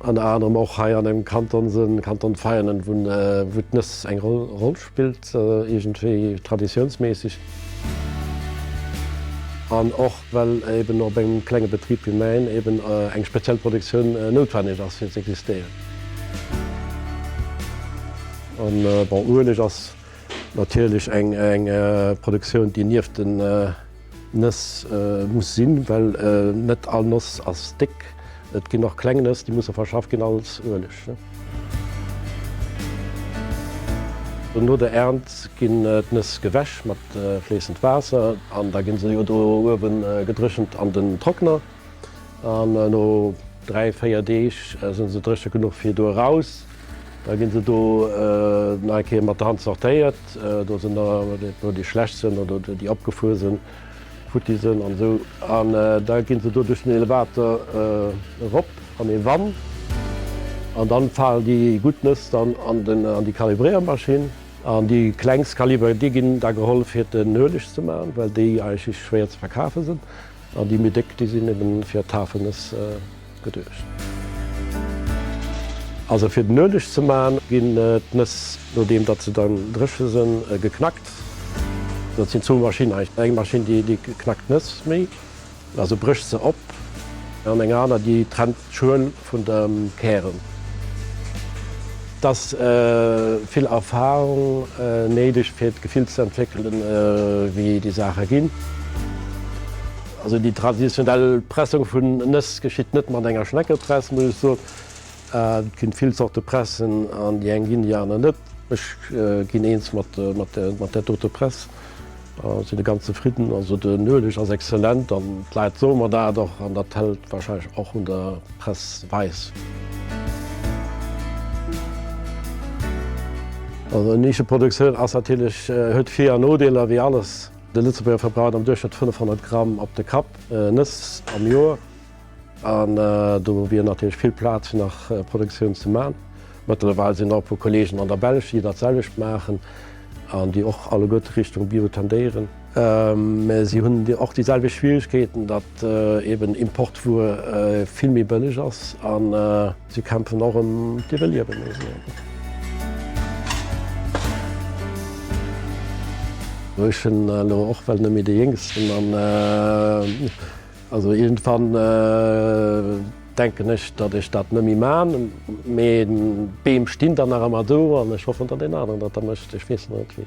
Ënner anerem och hei an engem Kanton, den Kanton Veianen, wou d'Nëss eng Roll spillt, iergendwéi traditiounsméisseg. An och well eeben op engem klenge Betrib wéi mäin eeben eng speziell Produktioun noutwenneg ass, fir z'existéieren. An bon, Ueleg ass natierlech eng Produktioun, déi nieft den. Nëss muss sinn, well net all Noss ass déck. Et ginn och kleng Nëss, déi musse verschafft ginn, als Ueleg. No der Ernt ginn d'Nëss gewäsch mat fléissend Waasser an da gi se jo do uewe gedréchent an den Trockner. An no dräi, véier Deeg si se dréche genuch fir do eraus. Da gi se do nach eng Kéier mat der Hand sortéiert. Do sinn der no déi schlecht sinn oder déi opgefuer sinn, futti sinn an esou. An da gi se do duerch den Elevator erop an ee Wann. An dann falen déi gutt Nëss dann an déi Kalibréiermaschinn. An déi klengst Kaliber, déi ginn da geholl fir den Ueleg ze maachen, well déi eigentlech schwéier ze verkafe sinn. An déi méi déck, déi sinn eben fir d'Hafenëss geduecht. Also fir den Ueleg ze maachen, ginn d'Nëss, nodeem datt se dann dréche sënn, geknackt. Dat sinn zwou Maschinnen eigentlech. Eng Maschinn, déi knackt d'Nëss méi, also brécht se op, an eng aner, déi trennt d'Schuel. vun der Kären. Et ass vill Erfahrung néideg fir d'Gefill ze entwéckelen wéi déi Saache ginn. Also déi traditionell Pressung vun Nëss geschitt net mat enger Schneckepress muss ech soen. Et ginn vill Zorte Pressen an déi eng ginn déi aner net. Ech ginn eens mat der dote Press. Sinn e ganz zefridden, also den Ueleg ass excellent an d'Leit soe mer dat och an dat hält wahrscheinlech och un der Press weis. Also eng Nischeproduktioun ass natierlech, huet Vir an Nodeeler wéi alles. De Lëtzebuerger verbraucht am Duerchschnëtt 500 Gramm op de Kapp Nëss am Joer. An do wier natierlech vill Plaz fir nach Produktioun ze man. Mëttlerweil sinn der e puer Kollegen an der Belsch, déi dat selwecht maachen an déi och alleguerte Richtung Bio tendéieren. Mä si hunn och déi selwecht Schwieregkeeten, datt eben Importwuer vill méi bëlleg ass a si kämpfen och ëm d'Iwwerliewen, muss ee soen. Ech hunn elo och well net méi de Jéngsten an. Also irgendwann denken ech dat ech dat nemmi maan, mee d'Beem stin dann nach emmer do an ech hoffen dat een aneren dat da mecht, ech wees net wien.